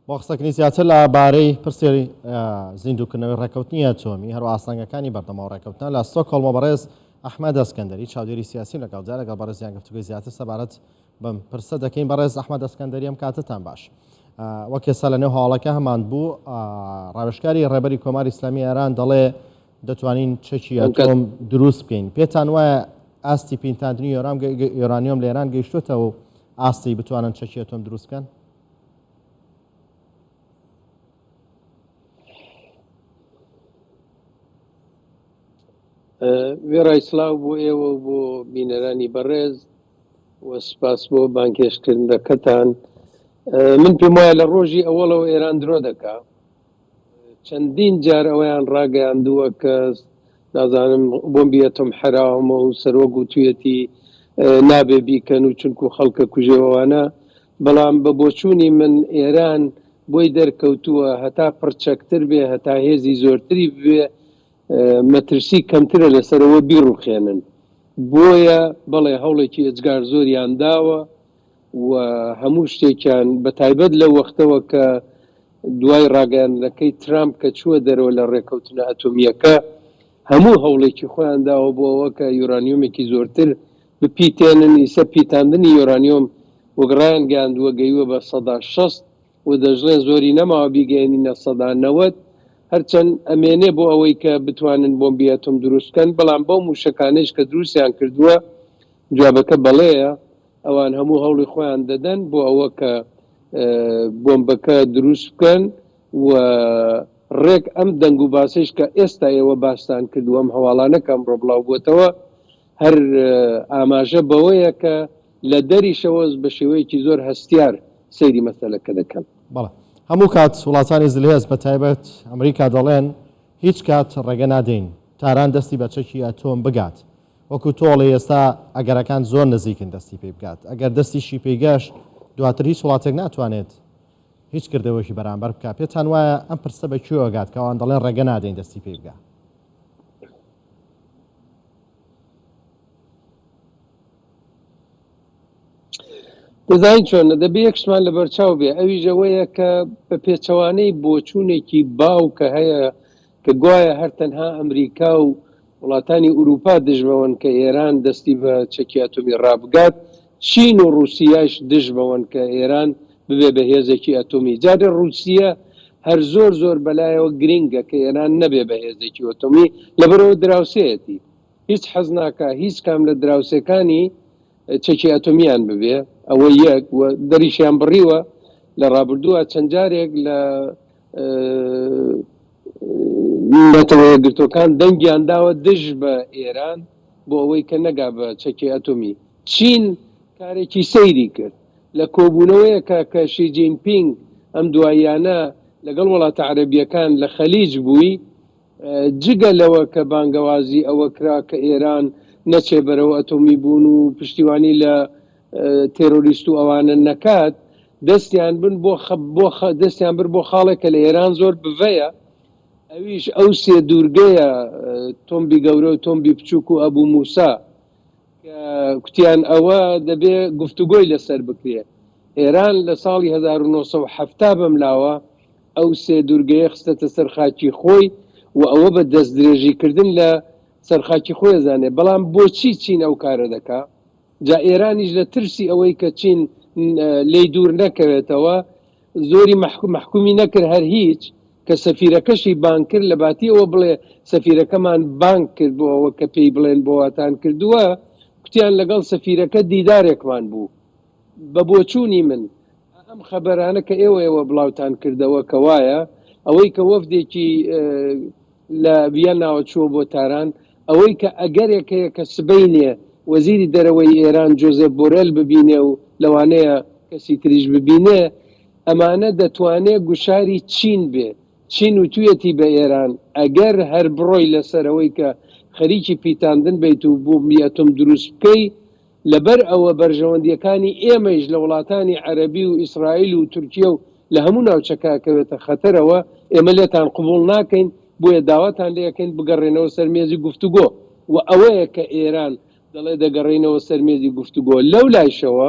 بۆ قسەکردنی زیاتر لە بارەی پرسی زیندووکردنەوەی ڕێککەوتنی ئەتۆمی هەرو ئاستەنگەکانی بەردەمەوە ڕێککەوتنە لە سۆکۆڵمە بەڕێز ئەحمە دەستکەندەری چاودێری سیاسیم لەگەڵ جا لەگەڵ بەڕێزیان گفتوگوی زیاتر سەبارەت بەم پرسە دەکەین بەڕێز ئەحمە دەستکەندەری ئەم کاتتان باش وەک کێسا لە نێو هەواڵەکە هەمان بوو ڕاوێشکاری ڕێبەری کۆماری ئسلامی ئێران دەڵێ دەتوانین چەکی ئەتۆم دروست بکەین پێتان وایە ئاستی پینتاندنی یۆرام یۆرانیۆم لە ئێران گەیشتوتەوە ئاستی بتوانن چەکی ئەتۆم دروستکەن وێڕای سلااو بۆ ئێوە و بۆ بینەرانی بەڕێز و سپاس بۆ بانکێشکردنەکەتان من پێم وایە لە ڕۆژی ئەوەڵەوە ئێران درۆ دەکا چەندین جار ئەویان ڕاگەیاندووە کە نازانم بۆمبیەتم حراومە و سەرۆک گوتویەتی نابێ بیکەن و چونکو خەڵکە کوژێەوەوانە بەڵام بە بۆچوونی من ئێران بۆی دەرکەوتووە هەتا پڕچەکتر بێ، هەتا هێزی زۆرتری ببێ مەترسی کەمترە لەسەر ئەوە بیڕووخێنن. بۆیە بەڵێ هەوڵێکی ئێجگار زۆریان داوە و هەموو شتێکیان بە تایبەت لەو وەختەوە کە دوای ڕاگەیاندنەکەی ترامپ کە چووە دەرەوە لە ڕێکەوتنە ئەتۆمییەکە هەموو هەوڵێکی خۆیان داوە بۆ ئەوە کە یۆرانیۆمێکی زۆرتر بپیتێنن، ئیسە پیتاندنی یۆرانیۆم وەک ڕایانگەیاندووە گەیوە بە سەدا شەست و دەشڵێن زۆری نەماوە بیگەیەنینە سەدا نەوەد، هەرچەند ئەمێنێ بۆ ئەوەی کە بتوانن بۆمبی ئەتۆم دروست بکەن، بەڵام بەو مووشەکانەیش کە دروستیان کردووە جوابەکە بەڵێیە، ئەوان هەموو هەوڵی خۆیان دەدەن بۆ ئەوە کە بۆمبەکە دروست بکەن و ڕێک ئەم دەنگ و باسەیش کە ئێستا ئێوە باستان کرد و ئەم هەواڵانە کە ئەمڕۆ بڵاو بووەتەوە، هەر ئاماژە بەوەیە کە لە دەریشەوە بە شێوەیەکی زۆر هەستیار سەیری مەسەلەکە دەکەن. بەڵێ. هەموو کات وڵاتانی زلهێز بە تایبەت ئەمریکا دەڵێن هیچ کات ڕێگە نادەین تاران دەستی بە چەکی ئەتۆم بگات. وەکو تۆ ئەڵێی ئێستا ئەگەرەکان زۆر نزیکن دەستی پێی بگات. ئەگەر دەستیشی پێی گەشت دواتر هیچ وڵاتێک ناتوانێت هیچ کردەوەیەکی بەرامبەر بکات. پێتان وایە ئەم پرسە بە کوێوە گات کە ئەوان دەڵێن ڕێگە نادەین دەستی پێی بگات؟ دەزانین چۆنە دەبێ یەکشمان لە بەرچاو بێ ئەویش ئەوەیە کە بە پێچەوانەی بۆچوونێکی باو کە هەیە کە گوایە هەر تەنها ئەمریکا و وڵاتانی ئوروپا دژبەوەن کە ئێران دەستی بە چەکی ئەتۆمی ڕابگات چین و ڕوسیاش دژ بەوەن کە ئێران ببێ بە هێزێکی ئەتۆمی. جا دە ڕوسیە هەر زۆر زۆر بەلایەوە گرینگە کە ئێران نەبێ بە هێزێکی ئۆتۆمی لەبەرئەوە دراوسێیەتی هیچ حەز ناکا هیچ کام لە دراوسێکانی چەکی ئەتۆمیان ببێ ئەوە یەک و دەریشیان بڕیوە لە ڕابردووە چەند جارێک لە نەتەوە یەکگرتووەکان دەنگیان داوە دژ بە ئێران بۆ ئەوەی کە نەگا بە چەکی ئەتۆمی. چین کارێکی سەیری کرد لە کۆبوونەوەیەکا کە شی جین پینگ ئەم دواییانە لەگەڵ وڵاتە عەرەبییەکان لە خەلیج بووی، جگە لەوە کە بانگەوازی ئەوە کرا کە ئێران نەچێ بەرەو ئەتۆمی بوون و پشتیوانی لە تێرۆریست و ئەوانە نەکات، دەستیان بن بۆ بۆ دەستیان برد بۆ خاڵێک کە لە ئێران زۆر بڤەیە، ئەویش ئەو سێ دوورگەیە، تۆمبی گەورە و تۆمبی بچووک و ئەبو موسا. کە کوتیان ئەوە دەبێ گفتوگۆی لەسەر بکرێ ئێران لە ساڵی 1970 بەم لاوە ئەو سێ دوورگەیە خستەتە سەرخاکی خۆی و ئەوە بە دەست درێژیکردن لە سەرخاکی خۆی زانێ بەڵام بۆچی چین ئەو کارە دەکا جا ئێرانیش لە ترسی ئەوەی کە چین لی دوور نەکەوێتەوە زۆری مەحکوم مەحکومی نەکرد هەر هیچ کە سەفیرەکەشی بانگ کرد لە باتی ئەوە بڵێ سەفیرەکەمان بانگ کرد بۆ ئەوە کە پێی بڵێن بۆ واتان کردووە کوتیان لەگەڵ سەفیرەکە دیدارێکمان بوو بە بۆچوونی من ئەم خەبەرانە کە ئێوە ئێوە بڵاوتان کردەوە کە وایە ئەوەی کە وەفدێکی لە ڤیەنناوە چووە بۆ تاران، ئەوەی کە ئەگەرێک هەیە کە سبەینێ وەزیری دەرەوەی ئێران جۆزێپ بۆرێل ببینێ و لەوانەیە کەسی تریش ببینێ، ئەمانە دەتوانێ گوشاری چین بێ. چین وتویەتی بە ئێران ئەگەر هەر بڕۆی لەسەر ئەوەی کە خەریکی پیتاندن بیت و بۆمبی ئەتۆم دروست بکەی، لەبەر ئەوە بەرژەوەندییەکانی ئێمەیش لە وڵاتانی عەرەبی و ئیسرائیل و تورکیە و لە هەموو ناوچەکە ئەکەوێتە خەتەرەوە، ئێمە لێتان قبوڵ ناکەین، بۆیە داواتان لێ ئەکەین بگەڕێنەوە سەر مێزی گفتوگۆ و ئەوەیە کە ئێران دەڵێ دەگەڕێینەوە سەر مێزی گفتوگۆ، لەولایشەوە.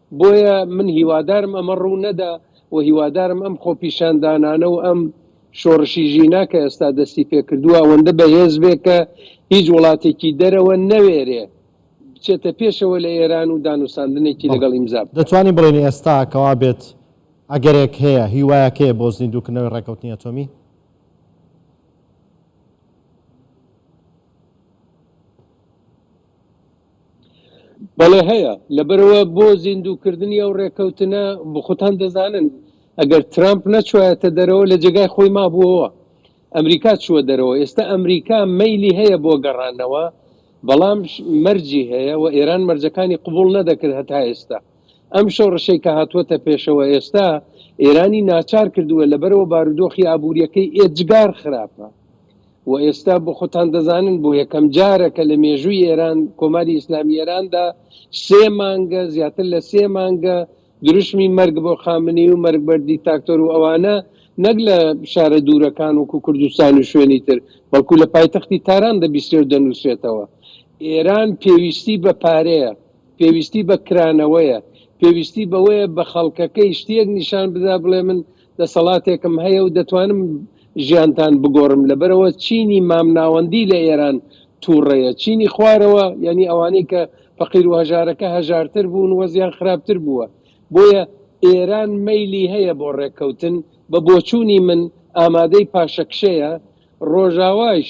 بۆیە من هیوادارم ئەمە ڕوو نەدا و هیوادارم ئەم خۆپیشاندانانە و ئەم شۆڕشی ژینا کە ئێستا دەستی پێکردووە ئەوەندە بەهێز بێ کە هیچ وڵاتێکی دەرەوە نەوێرێ بچێتە پێشەوە لە ئێران و دانوساندنێکی بەڵێ لەگەڵ ئیمزا بکا. دەتوانین بڵێین ئێستا کەوا بێت ئەگەرێک هەیە، هیوایەک هەیە بۆ زیندووکردنەوەی ڕێککەوتنی ئەتۆمی؟ بەڵێ هەیە، لەبەرئەوە بۆ زیندووکردنی ئەو ڕێککەوتنە، خۆتان دەزانن ئەگەر ترەمپ نەچوایەتە دەرەوە لە جێگای خۆی مابووەوە، ئەمریکا چووە دەرەوە، ئێستا ئەمریکا مەیلی هەیە بۆ گەڕانەوە، بەڵام مەرجی هەیە و ئێران مەرجەکانی قبوڵ نەدەکرد هەتا ئێستا، ئەم شۆڕشەی کە هاتووەتە پێشەوە ئێستا ئێرانی ناچار کردووە، لەبەرئەوە بارودۆخی ئابوورییەکەی ئێجگار خراپە. وە ئێستا بۆ خۆتان دەزانن بۆ یەکەم جارە کە لە مێژووی ئێران کۆماری ئیسلامی ئێراندا سێ مانگە زیاتر لە سێ مانگە دروشمی مەرگ بۆ خامنەی و مەرگ بەر دیتاکتۆر و ئەوانە نەک لە شارە دوورەکان وەکو کوردستان و شوێنی تر بەڵکو لە پایتەختی تاران دەبیسێ و دەنووسێتەوە ئێران پێویستی بە پارەیە پێویستی بە کرانەوەیە پێویستی بەوەیە بە خەڵکەکەی شتێک نیشان بدا بڵێ من دەسەڵاتێکم هەیە و دەتوانم ژیانتان بگۆڕم، لەبەرئەوە چینی مامناوەندی لە ئێران تووڕەیە، چینی خوارەوە یانی ئەوانەی کە فەقیر و هەژارەکە هەژارتر بوون وەزعیان خراپتر بووە، بۆیە ئێران مەیلی هەیە بۆ ڕێککەوتن، بە بۆچوونی من ئامادەی پاشەکشەیە، ڕۆژاواش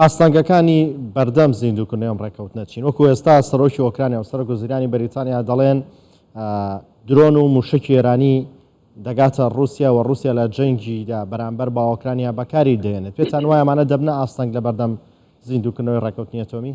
ئاستەنگەکانی بەردەم زیندووکردنەوەی ئەم ڕێککەوتنە چین؟ وەکو ئێستا سەرۆکی ئۆکرانیا و سەرۆک وەزیرانی بەریتانیا دەڵێن درۆن و موشکی ئێرانی دەگاتە رووسیا و رووسیا لە جەنگیدا بەرامبەر با ئۆکرانیا بەکاری دێنێت پێتان وایە ئەمانە دەبنە ئاستەنگ لە بەردەم زیندووکردنەوەی ڕێکوتنی ئەتۆمی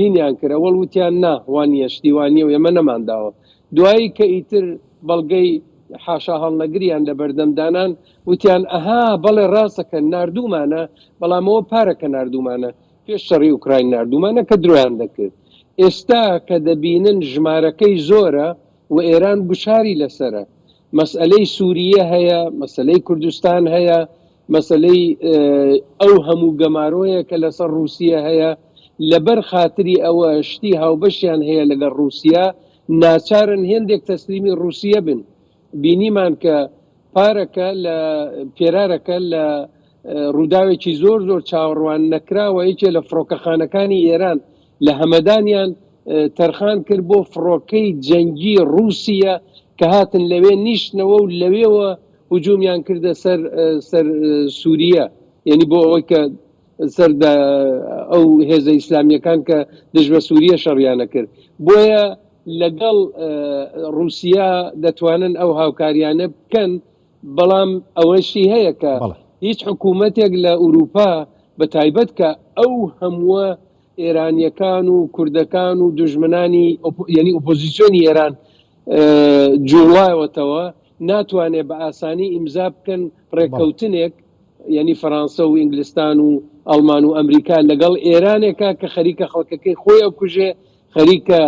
هینیان کرد ئەوەڵ وتیان نا وانیە شتی وانیە و ئێمە نەمان داوە دوایی کە ئیتر بەڵگەی حاشا هەڵنەگریان لەبەردەم دانان وتیان ئەها بەڵێ ڕاستە کە ناردوومانە بەڵام ئەوە پارە کە ناردوومانە پێش شەڕی ئوکراین ناردوومانە کە درۆیان دەکرد ئێستا کە دەبینن ژمارەکەی زۆرە و ئێران گوشاری لەسەرە مەسئەلەی سووریە هەیە مەسلەی کوردستان هەیە مەسلەی ئەو هەموو گەمارۆیە کە لەسەر رووسە هەیە لەبەر خاتری ئەوە شتی هاوبەشیان هەیە لەگەڵ رووسیا ناچارن هێندێک تەسلیمی رووسە بن بینیمان کە پارەکە لە پێرارەکە لە ڕووداوێکی زۆر زۆر چاوەڕوان نەکراوە یەکێ لە فڕۆکەخانەکانی ئێران لە هەمەدانیان تەرخان کرد بۆ فڕۆکەی جەنگی ڕووسە کە هاتن لەوێ نیشتنەوە و لەوێەوە هجوومیان کردە سەر سەر سووریە یعنی بۆ ئەوەی کە سەر ئەو هێزە ئیسلامیەکان کە دژ بە سووریە شەڕیانە کرد بۆیە لەگەڵ ڕوسیا دەتوانن ئەو هاوکاریانە بکەن بەڵام ئەوەشی هەیە کە بەڵێ هیچ حکوومەتێک لە ئورووپا بە تایبەت کە ئەو هەمووە ئێرانیەکان و کوردەکان و دژمنانی یعنی ئۆپۆزیسیۆنی ئێران جوڵایەتەوە ناتوانێت بە ئاسانی ئیمزا بکەن بەڵێ ڕێککەوتنێک یعنی فەرانسە و ئینگلستان و ئەڵمان و ئەمریکا لەگەڵ ئێرانێکە کە خەریکە خەڵکەکەی خۆی ئەکوژێ خەریکە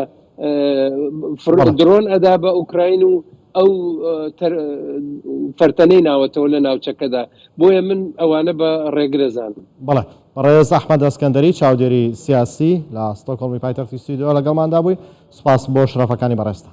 دڕۆن ئەدا بە ئۆکراین و ئەو فەرتەنەی ناوەتەوە لە ناوچەکەدا بۆیە من ئەوانە بە ڕێگرەزان بەڵێ بەڕێز ئەحمە دەستکەندەری چاودێری سیاسی لە ئاستۆکۆڵمی پایتەختی سویدەوە لەگەڵماندا بووی سوپاس بۆ شرافەکانی بەڕێستا